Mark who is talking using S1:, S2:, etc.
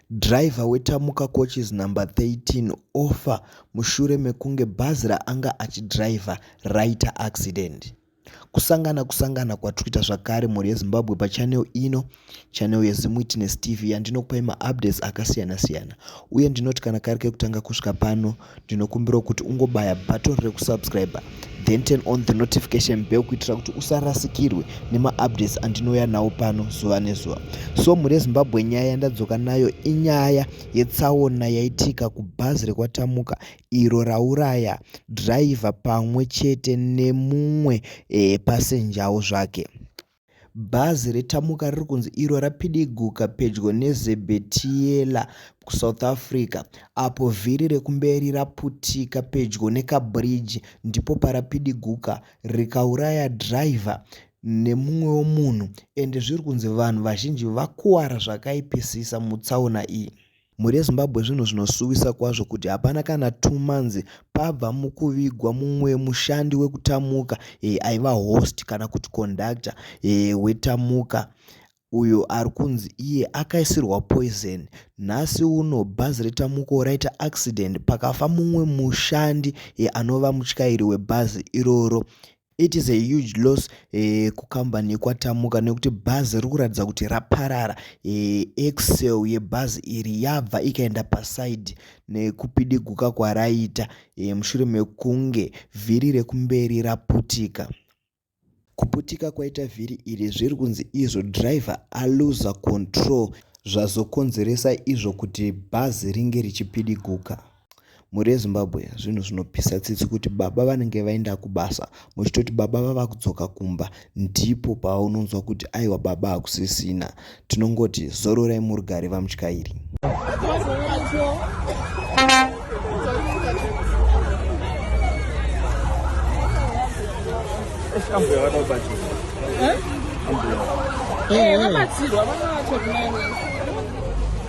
S1: Driver weTamuka Coaches number 13 ofa mushure mekunge bhazi raanga achidriver raita accident. Kusangana kusangana kwatikuita zvakare mhuri yeZimbabwe pachannel ino, channel yeZimWitness TV yandinokupai maupdates akasiyana siyana uye ndinoti kana kari kekutanga kusvika pano ndinokumbirawo kuti ungobaya button rekusubscriber then turn on the notification bell kuitira kuti usarasikirwe nemaupdates andinouya nawo pano zuva nezuva so mhuri yezimbabwe nyaya yandadzoka nayo inyaya yetsaona yaitika kubhazi rekwatamuka iro rauraya driver pamwe chete nemumwe e, eh, pasenjawo zvake Bhazi reTamuka riri kunzi iro rapidiguka pedyo neZebetiela kuSouth Africa apo vhiri rekumberi raputika pedyo nekabhiriji ndipo parapidiguka rikauraya dhiraivha nemumwewo munhu ende zviri kunzi vanhu vazhinji vakuwara zvakaipisisa mutsaona iyi. Mhuri yeZimbabwe zvinhu zvinosuwisa kwazvo kuti hapana kana two months pabva mukuvigwa mumwe mushandi wekutamuka e, aiva host kana kuti conductor e, wetamuka uyo ari kunzi iye akaisirwa poison nhasi uno bhazi retamuko raita accident pakafa mumwe mushandi e, anova mutyairi webhazi iroro It is a huge loss eh, kukambani yekwatamuka nekuti bhazi riri kuratidza kuti raparara eh, excel yebhazi iri yabva ikaenda pasaidi nekupidiguka kwaraita eh, mushure mekunge vhiri rekumberi raputika kuputika kwaita vhiri iri zviri kunzi izvo driver aluza control zvazokonzeresa izvo kuti bhazi ringe richipidiguka mhuri yezimbabwe zvinhu zvinopisa tsitsi kuti baba vanenge vaenda kubasa muchitoti baba vava kudzoka kumba ndipo paunonzwa kuti aiwa baba hakusisina tinongoti zororai murugare vamutyairi Eh, eh, eh.